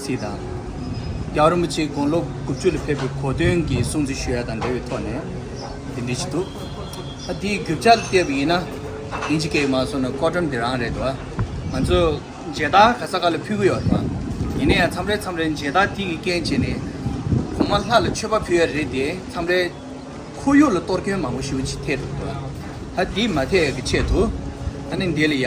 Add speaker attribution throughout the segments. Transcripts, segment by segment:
Speaker 1: ཚིག་དང། རྒྱ་རིན་པོ་ཆེའི་དགུང་ལོ་དགུ་བཅུ་ལ་ཕེབས་པའི་གོ་སྟོན་གྱི་གསུང་ཚིག་ཞུ་ཡ་དང་འབྲེལ་བའི་ཐོག་ནས་དེ་འབྲི་ཞིག་འདུག་ཨ་དེའི་རྒྱུ་ཆ་བལྟས་པ་ཡིན་ན་དེ་འཆི་ཁའི་མ་སོང་ན་ཀོ་བྲམ་དེ་རང་རེད་དོ། ང་ཚོ་མཇལ་དར་ག་ས་ག་ལ་ཕུལ་གི་ཡོད་རེད་པ། ཡིན་ན་ཡང་མཚམས་རེ་མཚམས་རེ་མཇལ་དར་དེ་ཡི་རྐྱེན་བྱས་ནས་གོང་མ་ལྷ་ལ་མཆོད་པ་ཕུལ་ཡ་རེད་དེ་མཚམས་རེ་ཁོར་ཡུག་ལ་གཏོར་སྐྱོན་མང་པོ་ཞུ་ཆེད་ཐལ་འདུག་ཨ་དེ་མ་ཐལ་གི་ཆེད་དུ་ཨ་ནི་འདི་ལ་ཡ།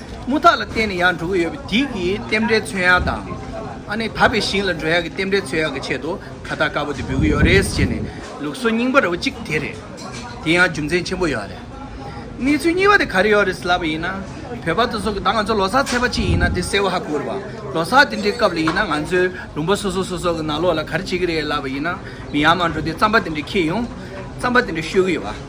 Speaker 1: རྨུ་ཐག་ལ་བརྟེན་ནས་ཡང་འགྲོ་གི་ཡོད་པ་དེ་གི་རྟེན་འབྲེལ་མཚོན་ཡག་དང། ཨ་ནེ་ད་པའི་ཞིང་ལ་འགྲོ་ཡག་གི་རྟེན་འབྲེལ་མཚོན་ཡག་གི་ཆེད་དུ་ཁ་བརྡ་དཀར་པོ་དེ་འབུལ་གི་ཡོད་རེད་ཅེས་ནས་ལུགས་སྲོལ་རྙིང་པ་ར་བ་གཅིག་དེ་རེད། དེ་ཡང་རྒྱུ་མཚན་ཆེན་པོ་ཡོད་རེད། གནས་ཚུལ་གཉིས་པ་དེ་ག་རེ་ཡོད་རེད་ཟེར་ལབ་པ་ཡིན་ན། བོད་པ་དེ་ཚོ་གི་ད་ང་ཚོ་ལོ་སར་ཚེས་པ་གཅིག་ཡིན་ན་དེ་སེར་བ་ཧ་གོ་རེད་པ། ལོ་སར་དེ་འདྲའི་སྐབས་ལ་ཡིན་ན་ང་ཚོའི་ལུང་པ་སོ་སོ་སོ་སོ་གི་ནང་ལོགས་ལ་ག་རེ་བྱེད་གི་རེད་ལབ་པ་ཡིན་ན་མི་ཡར་མར་འགྲོ་དུས་རྩམ་པ་དེ་འདྲ་ཁྱེར་ཡོང། རྩམ་པ་དེ་འདྲ་བཤོས་གི་ཡོད་པ།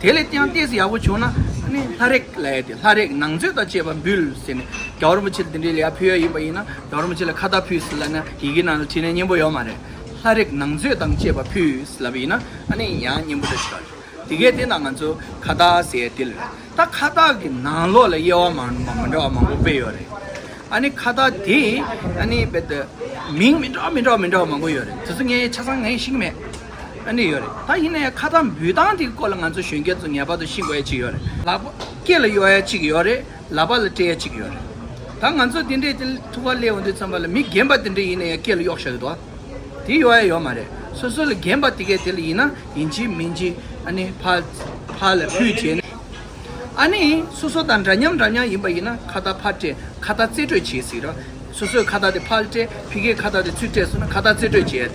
Speaker 1: དེ་ལས་ཀྱང་ལྟས་སུ་ཡག་པོ་བྱུང་ན་ནི་ལྷ་རེག་ལ་ཡ་སྟེ་ལྷ་རེག་ནང་མཛོད་དང་བཅས་པ་འབུལ་ཟེར་ནས་རྒྱ་བོར་མོ་ཆེར་དེ་འདྲའི་ལས་ཕུལ་ཡ་ཡིན་པ་ཡིན་ན་རྒྱ་བོར་མོ་ཆེ་ལ་ཁ་བརྡ་ཕུལ་ཟེར་ལབ་ན་ཡི་གེ་ནང་ལ་བྲིས་ན་སྙན་པོ་ཡོད་མ་རེད། ལྷ་རེག་ནང་མཛོད་དང་བཅས་པ་ཕུལ་ཟེར་ལབ་ཡིན་ན་ཨ་ནི་ཡང་སྙན་པོ་འདྲ་ཆགས་ཡོད། དེ་གས་དེ་ན་ང་ཚོ་ཁ་བརྡ་ཟེར་དེ་ལ་རེད་ད་ཁ་བརྡ་གི་ནང་ལོགས་ལ་དབྱེ་བ་མང་མང་མི་འདྲ་བ་མང་པོ་སྤེལ་ཡོད་རེད། ཨ་ནི་ཁ་བརྡ་དེ་ཨ་ནི་རྦད་དེ་མིང་མི་འདྲ་མི་འདྲ་མི་འདྲ་བ་མང་པོ་ཡོད་རེད་དེ་ཚོ་ངས་ཆ་ཚང་ངས་ཤེས་ཀྱི་མེད། ཨ་ནི་ཡོད་རེད་ད་ཡིན་ནའི་ཁ་ཚ་འབུད་སྟངས་དེ་སྐོར་ལ་ང་ཚོ་གཞོན་སྐྱེས་ཚོ་ངེས་པར་དུ་ཤེས་དགོས་ཡ་གཅིག་ཡོད་རེད་ལག་པ་སྐེ་ལ་གཡོག་ཡ་གཅིག་ཡོད་རེད་ལག་པ་ལ་སྤྲད་ཡ་གཅིག་ཡོད་རེད་ད་ང་ཚོ་དེ་འདྲའི་དེ་ཐུ་བ་ལེའོ་འདི་ཚོམ་པ་ལ་མི་རྒན་པ་དེ་འདྲ་ཡིན་ནའི་སྐེ་ལ་གཡོག་ཤ་ཡོད་དོ་དེ་གཡོག་ཡ་ཡོད་མ་རེད་སོ་སོ་ལ་རྒན་པ་དེ་གས་དེ་ལ་ཡིན་ན་ཡིན་གྱི་མིན་གྱི་ཨ་ནི་ཕ་ཕ་ལ་ཕུད་བྱས་ནས་ཨ་ནི་སོ་སོ་དང་འདྲ་མཉམ་འདྲ་མཉམ་ཡིན་པ་ཡིན་ན་ཁ་བརྡ་ཕར་སྤྲད་ཁ་བརྡ་རྩེ་སྤྲོད་བྱས་ཟིག་ར་སོ་སོས་ཁ་བརྡ་དེ་ཕར་སྤྲད་ཕི་གས་ཁ་བརྡ་དེ་ཚུར་སྤྲད་སོང་ན་ཁ་བརྡ་རྩེ་སྤྲོད་བྱས་ཡ་རེད།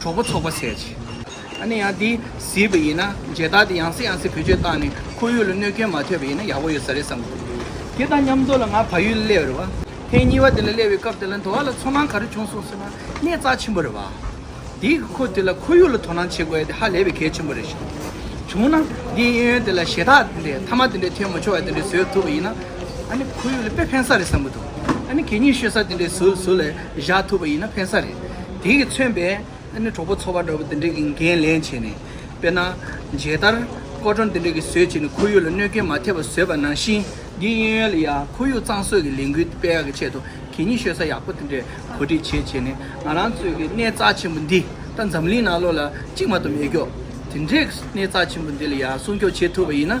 Speaker 1: གྲོགས་པོ་ཚོགས་པ་ཟེར་གྱི། ཨ་ནེ་ཡང་དེ་ཟེར་བ་ཡིན་ན་མཇལ་དར་དེ་ཡང་སྲིད་ཡང་སྲིད་བེད་སྤྱོད་བཏང་ནས་ཁོ་ཡུལ་ལ་གནོད་སྐྱོན་མ་ཐོས་པ་ཡིན་ན་ཡག་པོ་ཡོད་ས་རེད་བསམ་གི་འདུག་དེ་དང་མཉམ་དུ་ལ་ང་ཕ་ཡུལ་སླེབས་རེད་བ། ཐེངས་གཉིས་པ་དེ་ལ་སླེབས་པའི་སྐབས་དེ་ལ་འགྲོ་བ་ལ་ཚོར་སྣང་ག་རེ་བྱུང་སོང་ཟེར་ན་གནས་རྩ་ཆེན་པོ་རེད་བ། དེ་གི་ཁོ་དེ་ལ་ཁོ་ཡུལ་ལ་དོ་སྣང་བྱེད་དགོས་ཡ་དེ་ཧ་ལས་པའི་གལ་ཆེན་པོ་རེད་ཞེ་ན། བྱུང་ན་དེ་གཡས་གཡོན་དེ་ལ་ཞེ་ཐག་དེ་འདྲས་མཐའ་མ་དེ་འདྲས་ཐོན་མ་ཆོག་ཡ་དེ་འདྲས་བཟོས་ཐུབ་པ་ཡིན་ན། ཨ་ནེ་ཁོ་ཡུལ་ལ་དཔེ་ཕན་ས་རེད་བསམ་གི་འདུག་ཨ་ནེ་གད་སྙིགས་ཤོད་ས་དེ་འདྲས་བཟོས་ལ་བཞག་ཐུབ་པ་ཡིན་ན་ཕན་ས་རེད། དེས་མཚོན་པའི་གྲོགས་པོ་འཚོ་བ་འདྲ་བོ་འདི་འདྲས་ཀྱི་འགན་ལེན་བྱས་ནས། དཔེར་ན། མཇལ་དར། སྐོར་བྲོ་འདི་འདྲས་ཀྱི་བཟོས་བྱས་ནས་ཁོར་ཡུག་ལ་གནོད་སྐྱོན་མ་ཐེབས་པ་བཟོས་པ་ནང་བཞིན། དགེ་བསྙེན་ཡོན་ལ་ཡང་ཁོར་ཡུག་གཙང་བཟོས་ཀྱི་ལས་འགུལ་སྤེལ་ཡག་གི་ཆེད་དུ་གད་སྙིགས་ཤོད་ས་ཡག་པོ་འདི་འདྲས་གོ་སྒྲིག་བྱས་བྱས་ནས་ང་རང་ཚོས་ཀྱི་གནས་རྩ་ཆེན་པོ་འདི་ད་འཛམ་གླིང་ནང་ལོ་ལ་གཅིག་མ་གཏོགས་མེད་སྐྱོ། དེ་འདྲས་གནས་རྩ་ཆེན་པོ་འདི་ལ་ཡང་སྲུང་སྐྱོབ་བྱེད་ཐུབ་པ་ཡིན་ན།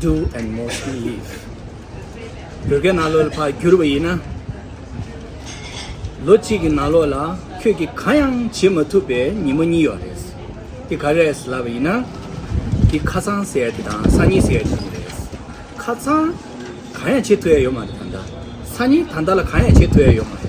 Speaker 2: Doe and Mosby ཡིས་བོད་སྐད་ནང་ལོག་ལ་ཕར་བསྒྱུར་བ་ཡིན་ན། ལོ་གཅིག་གི་ནང་ལོག་ལ་ཁྱོད་ཀྱིས་གང་ཡང་བྱེད་མ་ཐུབ་པའི་ཉིན་མོ་གཉིས་ཡོད་རེད། འདི་ག་རེད་ལབ་པ་ཡིན་ན། འདི་ཁ་ཚང་ཟེར་དེ་དང་ས་ཉིལ་ཟེར་དེ་རེད། ཁ་ཚང་གང་ཡང་བྱེད་ཐུབ་ཡ་ཡོད་མ་རེད་ད་ལྟ། ས་ཉིལ་ད་ལྟ་ལ་གང་ཡང་བྱེད་ཐུབ་ཡ་ཡོད་མ་རེད།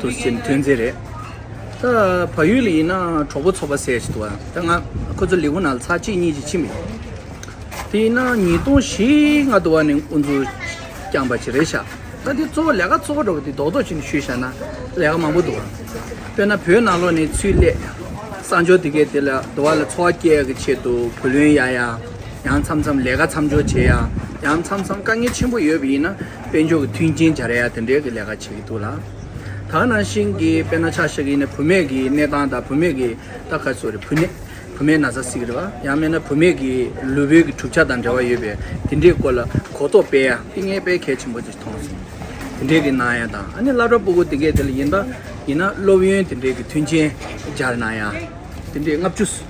Speaker 2: དུ་ཟིན་ཐོན་རྫས་རེད། ད་བལ་ཡུལ་ལ་ཡིན་ན་གྲོགས་པོ་ཚོགས་པ་ཟེར་བཞིན་འདུག་བ། ད་ང་ཁོ་ཚོ་ལས་ཁུངས་ནང་ལ་ཚར་གཅིག་གཉིས་ཀྱིས་ཕྱིན་པ་ཡིན། དེ་ཡིན་ན་ཉིས་སྟོང་བཞི་ལྔ་དུ་བ་ནས་དབུ་འཛུགས་བསྐྱངས་པ་ཅིག་རེད་ཤག་ད་དེ་གཙོ་བོ་ལས་ཀ་གཙོ་བོ་འགྲོ་བ་དེ་རྡོག་རྡོག་ཅིག་ནས་ཞུས་བཞག་ན་ལས་ཀ་མང་པོ་འདུག་བ། དཔེར་ན་བོད་ནང་ལོགས་ནས་ཚུལ་ལས་གསང་སྦྱོར་དེ་གས་དེ་ལ་དུ་བ་ལ་འཚོ་བ་སྐྱེལ་གི་ཆེད་དུ་བུ་ལོན་ཡ་ཡ། ཡང་མཚམས་མཚམས་ལས་ཀ་མཚམས་སྦྱོར་བྱེད་ཡ། ཡང་མཚམས་མཚམས་དཀའ་ངལ་ཆེན་པོ་ཡོད་པ་ཡིན་ན། དཔེ་འཇོག་གི་མཐུན་རྐྱེན་སྦྱར་ཡ་དེ་འདྲའི་གི་ལས་ཀ་བྱེད་ཀྱི་འདུག་ལ། ད་ནང་བཞིན་གི་དཔེ་ན་ཆ་ཤག་གི་ནི་བུ་མེད་གི་གནས་སྟངས་དང་བུ་མེད་གི་རྟ་ཁ་སོ་རེད་བུ་ནི་བུ་མེད་ན་ཟ་སྲིད་གི་རེད་བ་ཡང་མེད་ན་བུ་མེད་གི་ལུས་བོད་གི་གྲུབ་ཆ་དང་འབྲེལ་བ་ཡོད་པའི་དེ་འདྲའི་སྐོར་ལ་གོ་རྟོགས་སྤེལ་ཡ་ཏིང་ངེ་པའི་གལ་ཆེན་པོ་ཅིག་མཐོང་སོང། དེ་འདྲའི་གི་གནང་ཡ་དང་ཨ་ནི་བླ་བྲ་སྤུ་གུ་དེ་གའི་དེ་ལ་ཡིན་ད་ཡིན་ན་སློབ་ཡོན་དེ་འདྲའི་གི་མཐུན་རྐྱེན་སྦྱར་གནང་ཡ་དེ་འདྲའི་ལྔ་བཅུ།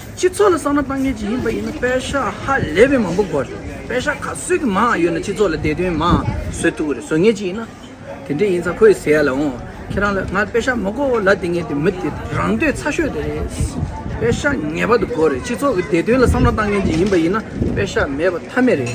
Speaker 2: སྤྱི་ཚོགས་ལ་བསམ་བློ་གཏང་མཁན་ཞིག་ཡིན་པ་ཡིན་ན་དཔེ་ཤག་ཧ་ལས་པའི་མང་པོ་དགོས་རེད། དཔེ་ཤག་ག་ཚོད་ཀྱི་མང་ཡོད་ན་སྤྱི་ཚོགས་ལ་བདེ་དོན་མང་བཟོས་ཐུབ་ཀྱི་རེད་བཟོ་ངེས་ཅིག་ཡིན་ན། དེ་འདྲས་ཡིན་ཙང་ཁོ་ཡི་ཟེར་ཡ་ལ་འོང། ཁྱེད་རང་ལ་ང་དཔེ་ཤག་མི་དགོ་ལ་དེ་ངས་དེ་མི་དེ་རང་འདོད་ཚ་ཤོས་དེ་རེད། དཔེ་ཤག་ངེས་པར་དུ་དགོས་རེད་སྤྱི་ཚོགས་ཀྱི་བདེ་དོན་ལ་བསམ་བློ་གཏང་མཁན་ཞིག་ཡིན་པ་ཡིན་ན་དཔེ་ཤག་མེད་པ་མཐའ་མེད་རེད།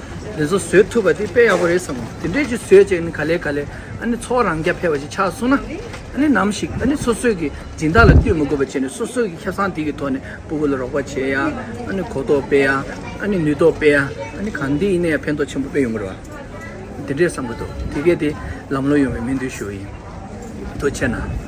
Speaker 2: དེ་ཚོ་བཟོས་ཐུབ་པ་དེ་དཔེ་ཡག་པོ་རེད་བསམ་དེ་འདྲས་ཅིག་བཟོས་རྗེས་ནི་ག་ལེ་ག་ལེ་ཨ་ནི་ཚོགས་རང་རྐྱ་འཕེར་བ་ཞིག་ཆགས་སོང་ན་ཨ་ནི་ནམ་ཞིག་ཨ་ནི་སོ་སོས་ཀྱི་སྦྱིན་བདག་ལ་བསྟུད་མི་དགོས་པ་བྱས་ནས་སོ་སོས་ཀྱི་ཁེ་བཟང་དེ་ཀྱི་ཐོག་ནས་སྤུ་བོ་ལ་རོགས་པ་བྱེད་ཡ་ཨ་ནི་གོ་རྟོགས་སྤེལ་ཡ་ཨ་ནི་ནུས་རྟོགས་སྤེལ་ཡ་ཨ་ནི་གང་དེ་ཡིན་ན་ཡང་ཕན་ཐོགས་ཆེན་པོ་དཔེ་ཡོང་གི་རེད་བ་དེ་འདྲས་བསམ་གི་འདུག་དེ་གས་དེ་ལམ་ལོ་ཡོང་བའི་སྨོན་འདུན་ཞུ་ཡི་འདུག་ཕྱིར་ན།